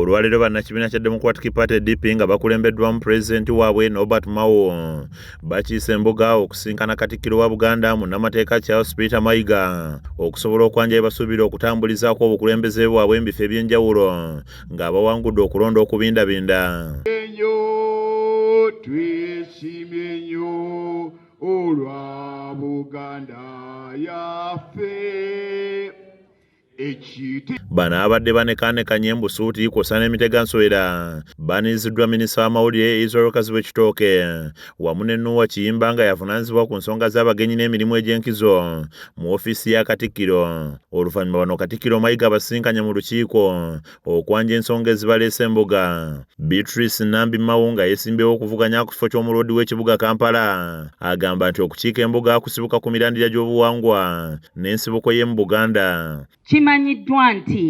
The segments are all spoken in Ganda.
Olwaleero bannakibiina kya Democratic Party DP nga bakulembeddwamu pulezidenti waabwe Norbert Mao bakiise embuga okusinkana katikkiro wa Buganda munnamateeka Charles Peter Mayiga okusobola okwanja ebasuubira okutambulizaako obukulembeze bwabwe embifo eby'enjawulo ng'abawangudde okulonda okubindabinda. Bano abadde banekanekanye embusuuti kwosa n'emitega nswera baniiziddwa minisita w'amawulire Israel Kazibwe Kitooke wamu ne Nuwa Kiyimba nga yavunaanyizibwa ku nsonga z'abagenyi n'emirimu egy'enkizo mu ofiisi ya Katikkiro. Oluvannyuma bano Katikkiro Mayiga abasisinkanye mu lukiiko okwanja ensonga ezibaleese embuga beatrice nambi mawu nga yesimbyewo okuvuganya ku kifo ky'omuloodi w'ekibuga kampala agamba nti okukiika embuga kusibuka ku mirandira gy'obuwangwa n'ensibuko y'emu buganda kimanyiddwa nti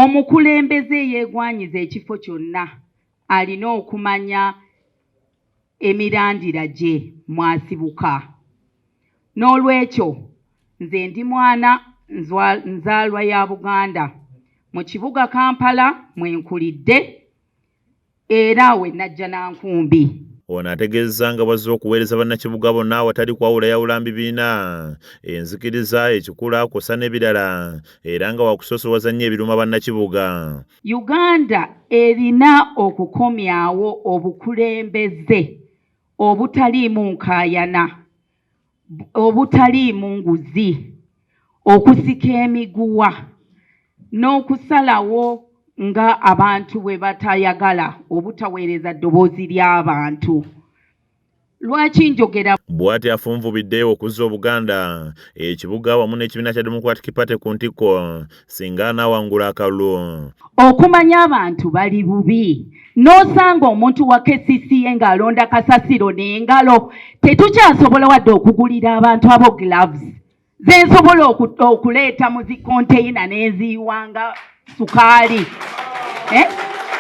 omukulembeze yeegwanyiza ekifo kyonna alina okumanya emirandira gye mwasibuka n'olwekyo nze ndi mwana nzaalwa ya buganda mu kibuga kampala mwe nkulidde era we najja na nkumbi ono ategeezza nga bwazze okuweereza bannakibuga bonna awatali kwawula yawula mbibiina enzikiriza ekikula kusa n'ebirala era nga wakusoosowaza nnyo ebiruma bannakibuga Uganda erina okukomyawo obukulembeze obutaliimu nkaayana, obutaliimu nguzi, okusika emiguwa n'okusalawo nga abantu bwe batayagala obutaweereza ddoboozi ly'abantu. lwaki njogera bwati afunvubidde okuzza obuganda ekibuga wamu n'ekibiina kya democratic party ku ntikko singa anaawangula akalulu okumanya abantu bali bubi n'osanga omuntu wa kcca ng'alonda kasasiro n'engalo tetukyasobola wadde okugulira abantu abo gloves zensobola okuleeta mu zikonteyina nenziyiwanga sukaali eh?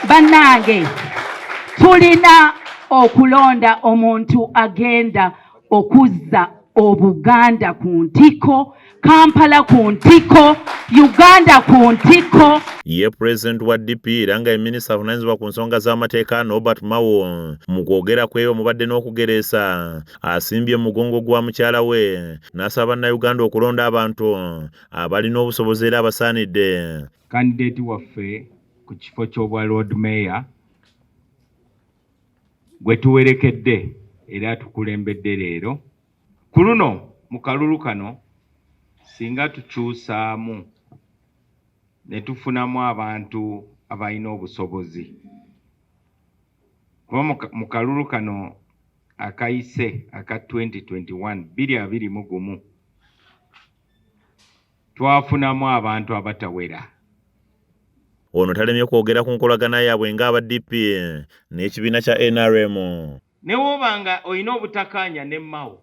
bannange tulina okulonda omuntu agenda okuzza obuganda ku ntiko kampala ku ntiko uganda ku ntiko ye pulezidenti wa dp era nga ye minisita avunanyizibwa ku nsonga z'amateeka nobert mawo mu kwogera kwebwe mubadde n'okugereesa asimbye mugongo gwa mukyala we n'asaba bannayuganda okulonda abantu abalina obusobozi era abasaanidde kandideeti waffe ku kifo ky'obwa lord mayor gwe tuwerekedde era tukulembedde leero ku luno mu kalulu kano singa tukyusaamu ne tufunamu abantu abalina obusobozi Kuba mu kalulu kano akayise aka 2021 biri abiri mu gumu twafunamu abantu abatawera ono talemye kwogera ku nkolagana yaabwe ng'aba dp n'ekibiina kya nrm newoba nga olina obutakaanya ne mao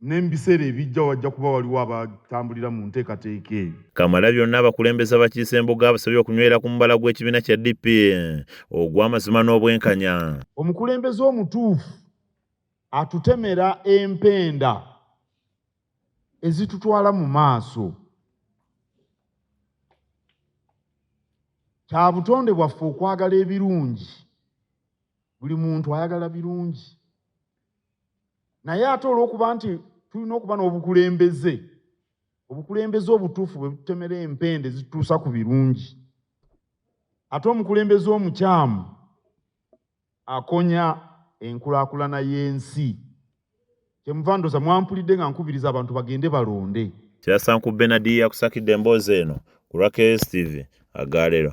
ne mu biseera ebijja wajja kuba waliwo abatambulira mu nteekateeka eyo. Kamalabyonna abakulembeze abakiise embuga abasabye okunywera ku mubala gw'ekibiina kya DP ogw'amazima n'obwenkanya. Omukulembeze omutuufu atutemera empenda ezitutwala mu maaso. Kya butonde bwaffe okwagala ebirungi. Buli muntu ayagala birungi. naye ate olw'okuba nti tulina okuba n'obukulembeze obukulembeze obutuufu bwe butemera empende zituusa ku birungi ate omukulembeze omukyamu akonya enkulaakulana y'ensi kyemuva ndoza mwampulidde nga nkubiriza abantu bagende balonde kyasanku benadi yakusakidde emboozi eno ku raks tv agalero